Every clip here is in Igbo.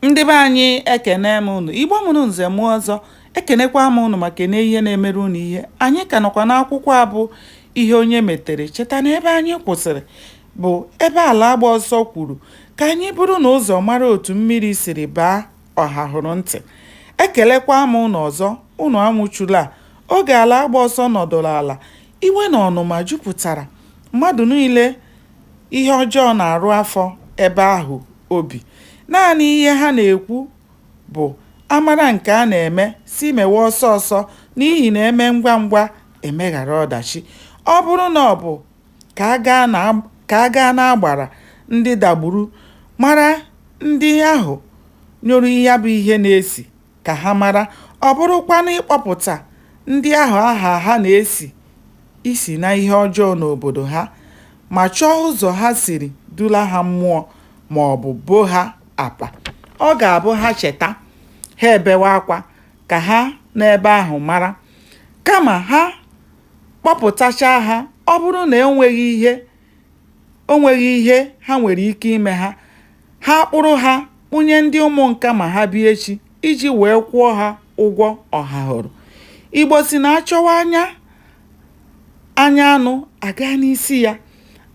ndị be anyị ekene m unu igbo mụrụ nze mụọ ọzọ ekenekwa m unu ma kene ihe na-emere unu ihe anyị ka nọkwa n'akwụkwọ a bụ ihe onye metere cheta na ebe anyị kwụsịrị bụ ebe ala agba ọsọ kwuru ka anyị buru na ụzọ mara otu mmiri siri baa ọha hụrụ ntị ekelekwa m unu ọzọ unu anwụchula oge ala agba ọsọ nọdụrụ ala iwe na ọnụma jupụtara mmadụ niile ihe ọjọọ na-arụ afọ ebe ahụ obi. Naanị ihe ha na-ekwu bụ, A mara nke a na-eme, sị mewe ọsọ ọsọ, n'ihi na e mee ngwa ngwa, e meghara ọdachi. Ọ bụrụ na ọ bụ ka a gaa n'agbara ndị dagburu mara ndị ahụ nyụrụ ya bụ ihe na-esi, ka ha mara, ọ bụrụkwanụ ịkpọpụta ndị ahụ aha ha na-esi isi na ihe ọjọọ n'obodo ha ma chọọ ụzọ ha siri dula ha mmụọ ma ọ bụ boo ha apa. Ọ ga-abụ ha cheta, ha ebewe akwa ka ha nọ ebe ahụ mara. Kama ha kpọpụtachaa ha, ọ bụrụ na e nweghị ihe o nweghị ihe ha nwere ike ime ha ha kpụrụ ha kpụnye ndị ụmụ nka ma ha bịa echi iji wee kwụọ ha ụgwọ ọha hụrụ igbo sị na a chọwa anya anya anụ a gaa n'isi ya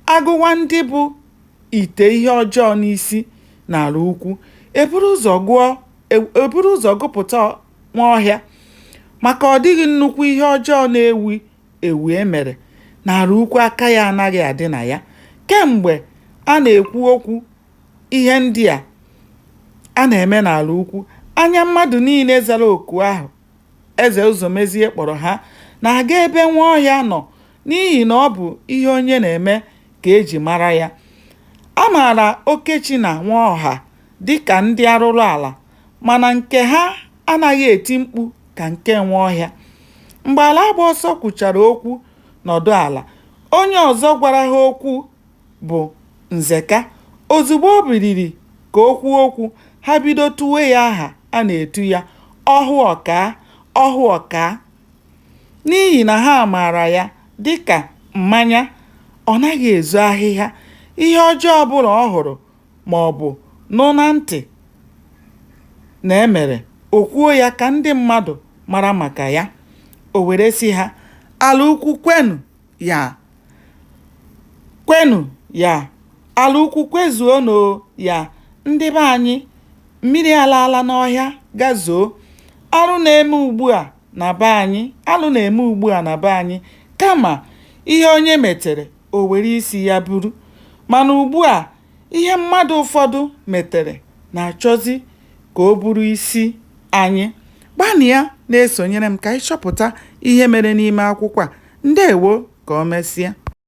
a gụwa ndị bu ite ihe ọjọọ n'isi n'ala ukwu e buru ụzọ gụpụta nwaọhịa maka ọ dịghị nnukwu ihe ọjọọ na-ewu ewu e mere n'ala ukwu aka ya anaghị adị na ya kemgbe a na-ekwu okwu ihe ndị a a na-eme n'ala ukwu anya mmadụ niile zara oku ahụ eze ụzọmezie kpọrọ ha na-aga ebe nwaọhịa nọ n'ihi na ọ bụ ihe onye na-eme ka e ji mara ya a maara okechi na nwaọha dị ka ndị arụrụala mana nke ha anaghị eti mkpu ka nke Nwaọhịa. Mgbe Alaagbaọsọ kwuchara okwu nọdụ ala, onye ọzọ gwara ha okwu bụ Nzeka. Ozugbo o biliri ka o kwuo okwu, ha bido tuwe ya aha a na-etu ya, Ọhụ Ọkaa, Ọhụ Ọkaa. N'ihi na ha maara ya dị ka mmanya, ọ naghị ezo ahịhịa, ihe ọjọọ ọbụla ọ hụrụ, ma ọ bụ nụ na ntị na e mere, o kwuo ya ka ndị mmadụ mara maka ya. O were sị ha, Ala ukwu kwenụ ya, kwenụ ya, ala ukwu kwezuonụ ya, ndị be anyị, mmiri alaala n'ọhịa gazuo. Arụ na-eme ugbu a na be anyị, alụ na-eme ugbu a na be anyị, kama ihe onye metere o were isi ya buru. Mana ugbu a, ihe mmadụ ụfọdụ metere na-achọzi ka o buru isi anyị. Gbanịa na-esonyere m ka anyị chọpụta ihe mere n'ime akwụkwọ a. Ndewo, ka o mesịa.